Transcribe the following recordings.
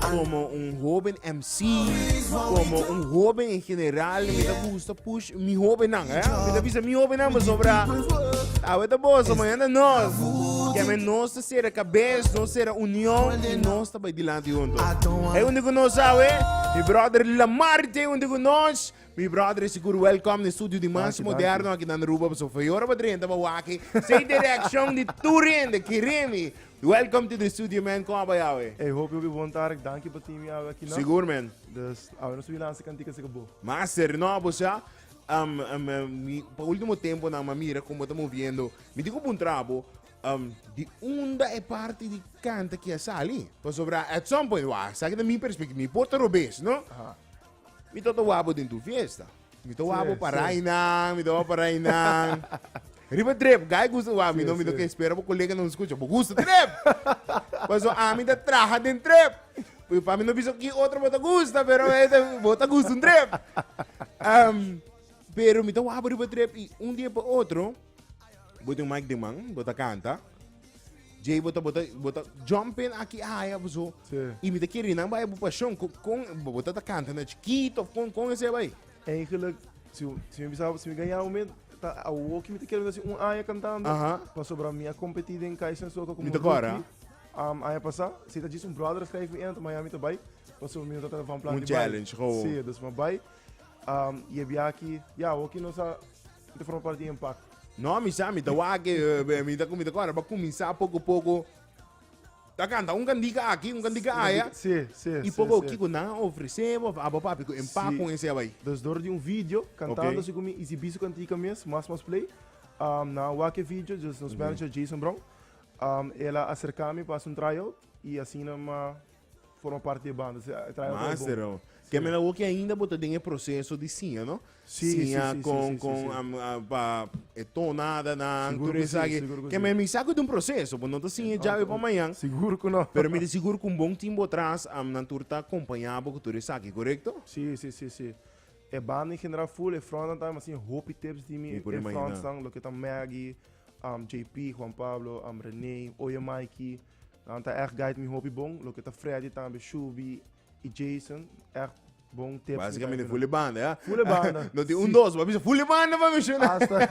Como un hoben MC, como un hoben en general, mi ta gusta push mi hobennan, eh? Mi ta bisa mi hobennan, maar sobra, awe ta boso, mañana nos. Que men nos te cera cabez, nos cera unión, y nos ta bay dilante junto. Hey, un digo nos, awe, mi brother Lamarte, un digo nos, mi brother is seguro welcome in studio di mas Dankie, moderno, aki dan ruba, so feyora pa drenta, pa waki, say direction di Turin, de Kirimi, Welcome to the studio man, con a bai awe? Ey hopi hopi bon tarek, danki pa tin mi awe aki no. Sigur men. Dus awe nos a wini lansa kantika si ku bo. Master, no bo sa um um mi pa ultimo tempo nan mi a mira kon bo ta moviendo. Mi tin ku puntra bo um di unda e parti di kanta aki a sali? Pasobra at some point, wa esaki ta mi perspek mi por ta robes no, mi tabata wak bo den tur fiesta. Mi ta wawbo pa rainan, mi ta wawbo pa rainan. Riba drip, guy gusta wawbo, mi no, mi no ke spera bo koleganan skucha, bo gusta drip! Paso ami ta traha den drip. Mi pa mi no bisa ki otro bo ta gusta, pero bo ta gusta un drip. Um, pero mi ta wawbo riba drip i un dia pa otro, bo ta den man, bo ta kanta, Jay bota bota bota jumping aki ai ah, so sí. y mi te quiere nan bai pasión con con bota ta canta na chiquito con con ese bai eigenlijk si si mi bisa si mi gaya me ta a woki mi te quiere si un año cantando Aha. pa sobra mi a competir den Kaizen Soca como mi te cora um, año pasa si ta jis un brother schrijf mi en Miami te bai pa so mi ta van plan un challenge gewoon sí dus ma bai Um, y e biaki, ya, yeah, oki nos a, te forma parte di impact. No, mi sa, mi ta wake, eh, mi ta kumi ta kora, ba kuminsa poco poco. Ta canta un candica aquí, un candica allá. Sí, sí, Y poco sí, kiko sí. nan ofrece, of abo papi, ko empa sí. con ese abai. Dus door di un video, cantando okay. su kumi, y si bisu cantica mes, mas mas play. Um, na wake video, dus nos mm -hmm. manager Jason Brown, um, ela acercame para un tryout, y así na ma... forma parte di banda. Sí, trae un Mas, trae bon. Pero, que me la woki ainda bo ta den e proceso di siña, no? Sí, sí, Siña sí, sí, con, sí, sí, con, sí. am, ah, pa, e tonada, nan, Seguro todo que sí, esaki. seguro que Que sí. me, mi sa cu den proceso, bo no ta siña javi pa mañan. Seguro que no. Pero mi ta sigur cu un bon team bo tras, am, nan tur ta acompaña bo cu todo esaki, correcto? Sí, sí, sí, sí. E banda en general full, e frontnan también, mas sin hopi tips di mi, Mi por e imaginá. frontsnan, lo que ta Maggie, um, JP, Juan Pablo, um, René, Oye Mikey, Nan ta echt gait mi hopi bon, loke ta Freddy tambe, Shubi i Jason, echt bon tips. Básicamente full banda, ja? Full banda. no tin un dos, pa bisa full banda pa mi shuna. Hasta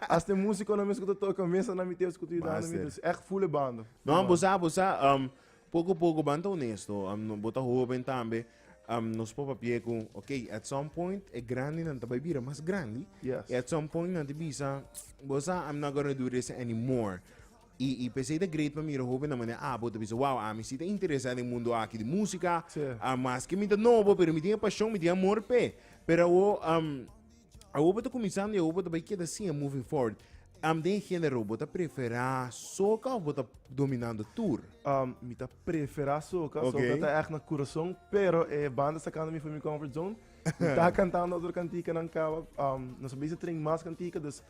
hasta músico na mes que toca mesa na mi tips que tu idana mi, dus echt full banda. No, bosa bosa um poco poco banta honesto, um no bota hoben tambe. Um, nos papa pie ku, okay, at some point e grandi nan ta bai bira mas grandi. Yes. At some point nan ti bisa, bosa I'm not gonna do this anymore. I i p'esei ta great pa mira hobennan manera abo ta bisa, wow, ami si ta interesá den e mundo aki di músika, a maske mi ta nobo, pero mi tin e pashon, mi tin e amor p'e. Pero awo, am, awo bo ta kuminsando i awo bo ta bai keda siña moving forward. Am, den e género bo ta preferá soca òf bo ta dominando tur? Am, mi ta preferá soca, Oké. soca ta ègt na kurason, pero e banda sakando mi for mi comfort zone. Mi ta kantando otro kantikanan kaba, am, nos a bisa train mas kantika, dus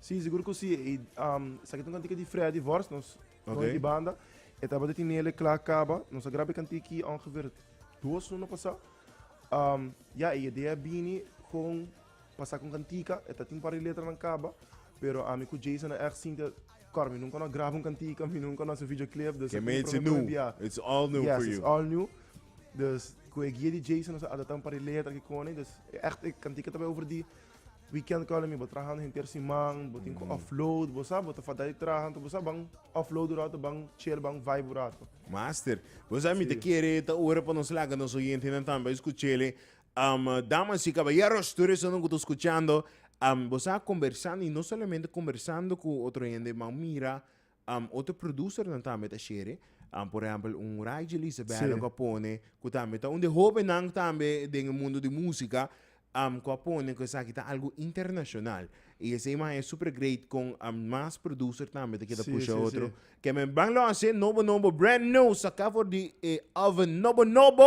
Sí, sigur ku sí. I um, sa kita un kantika di Freddy Vorst, nos Ok. okay. banda. E tabata tinele kla kaba. Nos a graba e kantiki ongeveer dos luna pasa. Um, ja, e idea bini kon pasa kon kantika. E ta tin par di letra nan kaba. Pero ami ku Jason a echt sinti kor. Mi nunca no a graba un kantika, mi nunca no a hace videoclip. Dus Ke mi it's new. It's all new yes, for it's you. all new. Dus ku e guia di Jason nos a adapta un par di letra ki koni. Dus e echt e kantika ta bai over di Weekend column mi bo trahando henter siman, bo tin mm. offload, bo sa, bo ta fadai trahando, bo sa ban offload urato, ban chill, ban vibe urato. Master, bo sa mi te kere ta ora pa nos laga nos oyente nan tamba escuchele. Um, damas y caballeros, tú eres uno que está escuchando. Um, bo sa conversando y no solamente conversando con otro gente, man mira Um otro producernan tambe ta share, um por ehempel un Ray Jelice Bello Sí. cu a pone cu tambe ta un di hobennan tambe den e mundo di musica um cu a pone cu esaki ta algo internacional y esey man e super great con um mas producer tambe ta kita Sí, pusha sí, otro. sí. Ke men ban lo hace nobo nobo brand new saca for di e oven nobo nobo.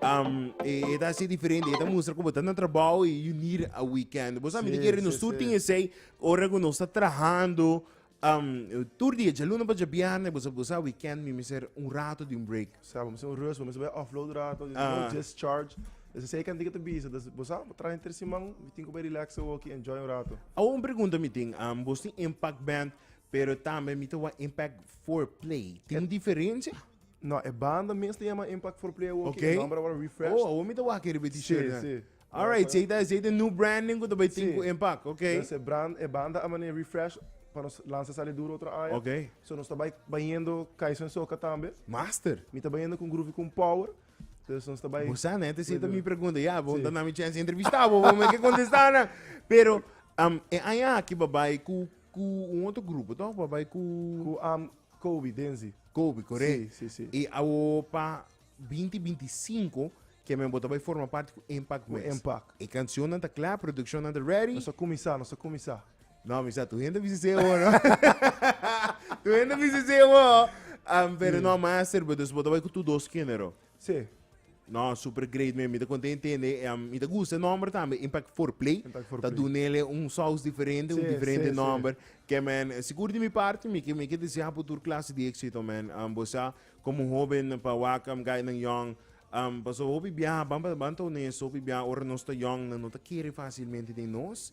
Um, e, e ta así diferente, e ta mustra como tan trabajo y unir a weekend. Vos sabe, Sí, quiere sí, nos sí. tin ese, ora que nos está trabajando, um, tur día, ya luna pa ya viernes, vos vos sabe, weekend, mi ser un rato de un break. Sabe, vamos a hacer un rest, vamos a hacer offload rato, you Ah. know, discharge. Dus zij kan dingen te bieden. Dus we zijn op trein ter Simon, we denken bij relaxen, we kunnen enjoy een rato. Há uma pergunta me tem, um, vos tem Impact Band, pero também me tem uma Impact Foreplay. Tem diferença? No, e banda mes ta yama Impact for Play awo, okay. e nomber awor refreshed. Oh, awor mi ta wak e riba t-shirt. Sí, sí. Alright, si ta si ta new branding ku ta bai tin ku Impact, okay. Entonces e brand e banda a mane refresh pa nos lansa sali duro otro aya. Okay. So nos ta bai bayendo Kaizen Soca tambe. Master. Mi ta bayendo kun Groovy kun Power. Entonces nos ta bai. Bosa ne te si ta mi pregunta ya, bo ta na mi chance entrevista bo, bo me ke contesta na. Pero um, e aya ki ba bai ku ku un otro grupo, toch? Ba bai ku ku um Kobe Denzi. Kobe, correct. Sí, sí, sí. Y awo pa 2025 ke men bo ta bay forma parti cu Impact West. Cu Impact. E cancionnan ta cla, produccionnan ta ready. Nos a cuminsa, nos a cuminsa. No, mi sa, tu hende bisa esey awo, no. tu hende bisa esey awo. Um, pero no, master, bo ta bay cu tur dos genero. Sí. No, super great men, mi ta konta intende, em, mi ta gusta nomber tambe, Impact for Play, Impact for ta Play. dunele un saus diferente, un Sí, diferente sí, sí. nomber, ke men, eh, sigur di mi parti, mi ke, mi ke desea por tur klase di éxito men, em, bo sa, komo hoben pa wak, em, gainan yòn, em, paso hopi bia, ban, ban, ban ta honesto, hopi bia ora nos ta yòn nan no ta kere fácilmente den nos,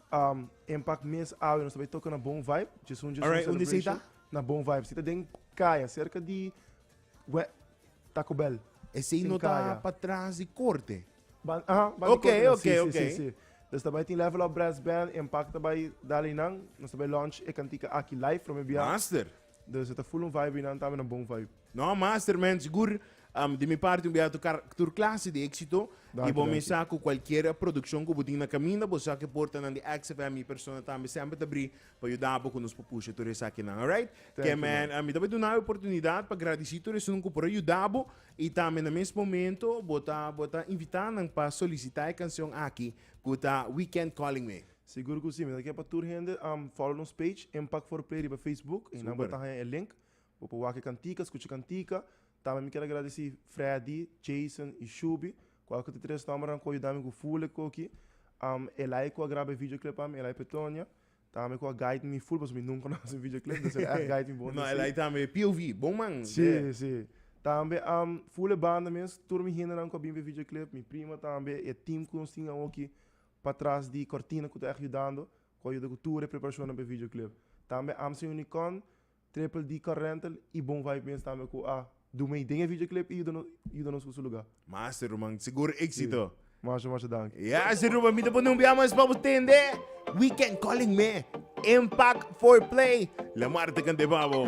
En pak mes awe nos ta bay toka na Bon Vibe, Djesun Djesun Alright, unde esei ta? Celebration na Bon Vibe. Esei ta den kaya, serka di we Taco Bell. Esei Tin no ta kaya. pa tras di korte? Ban, aha, ban di Ok, korte nan, ok, si, si, ok. si, si. Nos ta bay tin Level Up Brass Band, en pak ta bay dal einan, nos ta bay launch e kantika aki live, prome bia. Master! Dor se ta full un vibe y nan tambe na bon vibe. No master men sigur um, di mi parti un bia tur kar tur klase di exito y Danki, bo danki. mesa cu cualkier produccion cu bo tin na caminda bo sa cu porta nan di XFM mi persona tambe semper ta bri pa yuda bo cu nos por pusha tur esakinan alright Thank you, kemen man. um, mi ta bay duna e oportunidad pa gradici tur esun cu por a yuda bo y tambe na mes momento bo ta bo ta invita nan pa solicita e cancion aki cu ta Weekend Calling Me. Sigur cu si, mi ta kier pa tur hende a follow nos page Impact for Play riba Facebook, ahí nan bo ta haña e link, bo por wak e cantica, scucha e cantica, tambe mi kier agradeci Freddy, Jason y Shuby, cu aki ta tres nombernan cu a yuda mi cu full e coki, Elay cu a graba e videoclip pa mi, Elay Petonia, tambe cu a guide mi full, pasobra mi nunca no a haci un videoclip, entonces el echt guide mi bon así. Elay tambe POV, bon man. Sí, sí. Tambe full e banda mes, tur mi hendenan cu a bin pa e videoclip, mi prima tambe, e team cu nos tin awoki, Patras di cortina cu ta echt yudando cu a yuda cu tur e preparacionnan pa e videoclip. Tambe Amsey Unicon, Triple D Car Rental y Bon Vibe mes tambe cu a du mey den e videoclip y yuda yuda nos cu su lugar. Masa ruman, sigur exito. Masha masha danki. Ya si Ruben, mi ta pone un bia mas pa bo tende Weekend Calling me Impact for Play La Mar ta cante pa bo.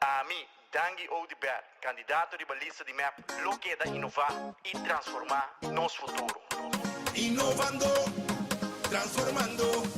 Ami, Dangi Ou di Bert, kandidato riba lista di mep, lo keda inová i transformá nos futuro. Inovando, transformando.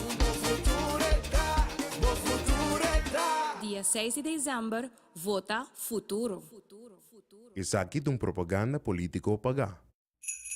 Dia seis di december vota futuro. Esaki ta un propaganda politico pagá.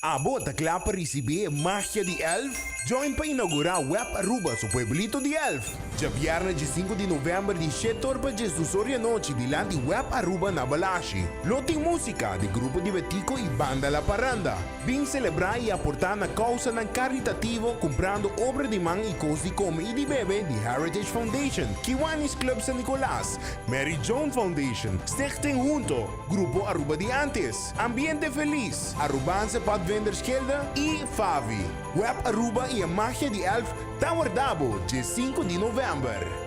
Abo ta kla pa risibé e magia di Elf? Join pa inaugurá Web Aruba su pueblito di Elf! Dja bièrnè dje sinku di novèmber di shete or pa djes dus or di anochi dilanti Web Aruba na Balashi. Lo tin músika di grupo Dibetico i Banda La Parranda. Bin selebrá i aportá na kousanan karitativo kumprando obra di man i kos di kome i di bebe di Heritage Foundation, Kiwanis Club San Nicolas, Mary Joan Foundation, Stichting Hunto, Grupo Aruba di Antes, Ambiente Feliz, Arubaanse Padvendersgilde i FAVI. Web Aruba i e magia di Elf ta wardabo dje sinku di novèmber.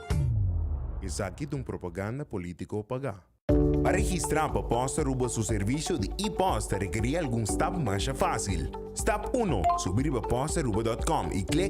Esaki ta un propaganda politico pagá. Pa registrá pa pos ta Aruba su servisio di e-pos ta rekerí algun stap masha fásil. Stap uno, Subí riba postaruba dòt kòm i klik.